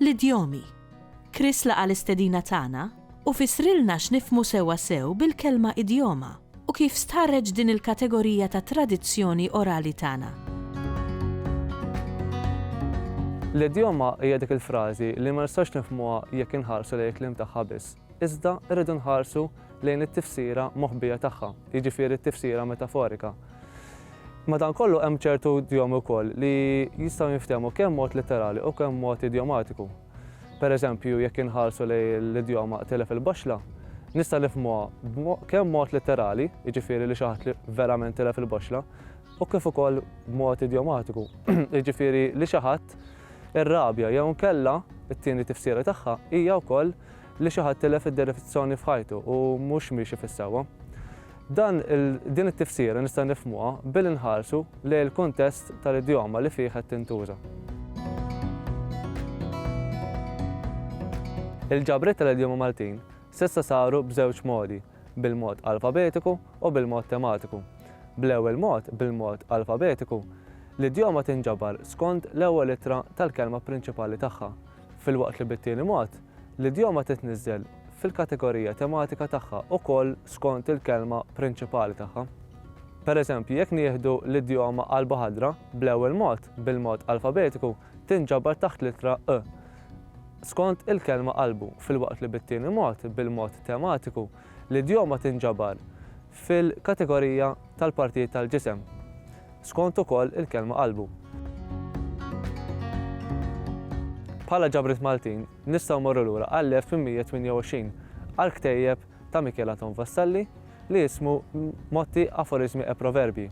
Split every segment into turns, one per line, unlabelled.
L-idjomi. Chris laqa' l-istedina tagħna u fissrilna x'nifhmu sewwa sew bil-kelma idjoma u kif stħarreġ din il-kategorija ta' tradizzjoni orali tagħna. L-idjoma hija dik il-frażi li ma nistgħux nifhmuha jekk inħarsu lejn il-kliem tagħha biss. iżda rridu nħarsu lejn it-tifsira moħbija tagħha, jiġifieri t-tifsira metaforika. Madankollu hemm ċertu idjomi wkoll li jistgħu jinftehmu kemm mod litterali u kemm mod idjomatiku. Pereżempju, jekk inħarsu lejn l-idjoma tilef il-baxla, nista' nifhmuha kemm mod litterali, jiġifieri li xi ħadd li verament tilef il-baxla, u kif ukoll b'mod idjomatiku, jiġifieri li xi ħadd irrabja jew inkella, it-tieni tifsira tagħha, hija wkoll li xi ħadd tilef id-direzzjoni f'ħajtu u mhux miexi fis-sewwa. Dan il, din it-tifsira nistgħu nifhmuha billi nħarsu lejn il-kuntest tal-idjoma li fih qed tintuża. Il-ġabriet tal-idjoma Maltin s'issa saru b'żewġ modi, bil-mod alfabetiku u bil-mod tematiku. Bl-ewwel mod, bil-mod alfabetiku, l-idjoma tinġabar skond l-ewwel ittra tal-kelma prinċipali tagħha, filwaqt li bit-tieni mod, l-idjoma titniżżel fil-kategorija tematika tagħha wkoll skont il-kelma prinċipali tagħha. Pereżempju, jekk nieħdu l-idjoma qalba ħadra, bl-ewwel mod, bil-mod alfabetiku, tinġabar taħt l-ittra ë skont il-kelma qalbu, filwaqt li bit-tieni mod, bil-mod tematiku, l-idjoma tinġabar fil-kategorija tal-partijiet tal-ġisem, skont ukoll il-kelma qalbu. Bħala ġabriet Maltin nistgħu mmorru lura għall-1828 għall-ktejjeb ta' Mikiel Anton Vassalli li jismu Motti, Aforismi e Proverbji.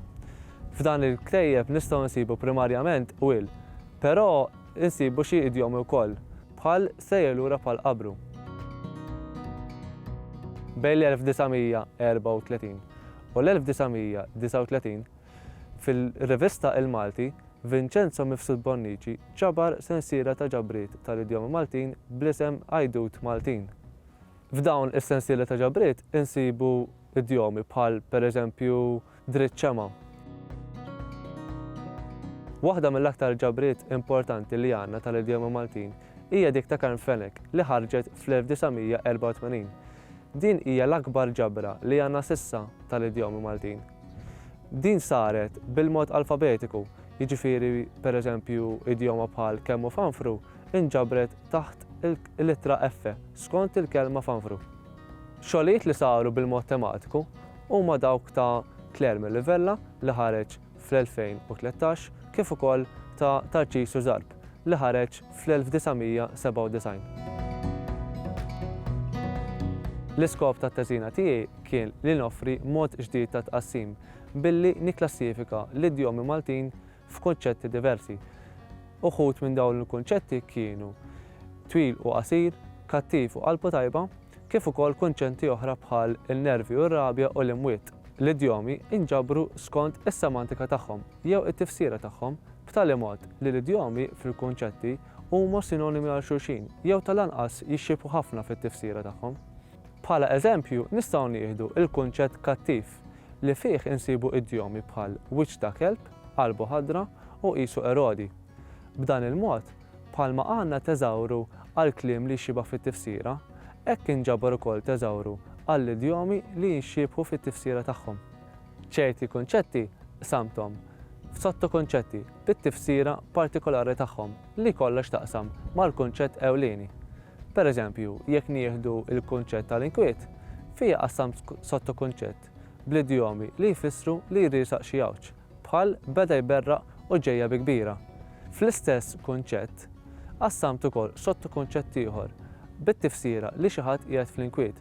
F'dan il-ktejjeb nistgħu nsibu primarjament qwiel, però nsibu xi idjomi wkoll, bħal sejjer lura bħal qabru. Bejn l-1934 u l-1939, fil-rivista Il-Malti, Vinċenzo Mifsud Bonnici ġabar sensiela ta' ġabriet tal-idjomi Maltin bl-isem Għajdut Maltin. F'dawn is-sensiela ta' ġabriet insibu idjomi bħal, pereżempju, Dritt Ċema. Waħda mill-aktar ġabriet importanti li għandna tal-idjomi Maltin hija dik ta' Karm Fenech li ħarġet fl-1984. Din hija l-akbar ġabra li għandna s'issa tal-idjomi Maltin. Din saret bil-mod alfabetiku, jiġifieri pereżempju idjoma bħal kemm hu fanfru nġabret taħt il-ittra F skont il-kelma fanfru. Xogħlijiet li saru bil-mod tematiku huma dawk ta' Claire Melivella li ħareġ fl-2013 kif ukoll ta' Tarċisju Zarb li ħareġ fl-1997. L-iskop tat-teżina tiegħi kien li noffri mod ġdid ta' tqassim billi nikklassifika l-idjomi Maltin f'kunċetti diversi. Uħud minn dawn il-kunċetti kienu twil u qasir, kattiv u qalbu tajba, kif ukoll kunċenti oħra bħal il-nervi u r-rabja u l-imwiet. L-idjomi nġabru skont is-semantika tagħhom jew it-tifsira tagħhom b'tali mod li l-idjomi fil-kunċetti huma sinonimi għal xulxin jew tal-anqas jixxiebħu ħafna fit-tifsira tagħhom. Bħala eżempju nistgħu nieħdu l-kunċett kattiv li fih insibu idjomi bħal wiċċ ta' kelb, qalbu ħadra u qisu Erodi. B'dan il-mod, bħalma għandna teżawru għall-kliem li jxibah fit-tifsira, hekk inġabar ukoll teżawru għall-idjomi li jinxiebħu fit-tifsira tagħhom. Ċerti kunċetti qsamthom f'sottokunċetti bit-tifsira partikolari tagħhom li jkollha x'taqsam mal-kunċett ewlieni. Pereżempju, jekk nieħdu l-kunċett tal-inkwiet, fih qassamt sottokunċett bl-idjomi li jfissru li jriesaq xi għawġ, bħal beda jberraq u ġejja bi kbira. Fl-istess kunċett, qassamt ukoll sottokunċett ieħor bit-tifsira li xi ħadd qiegħed fl-inkwiet,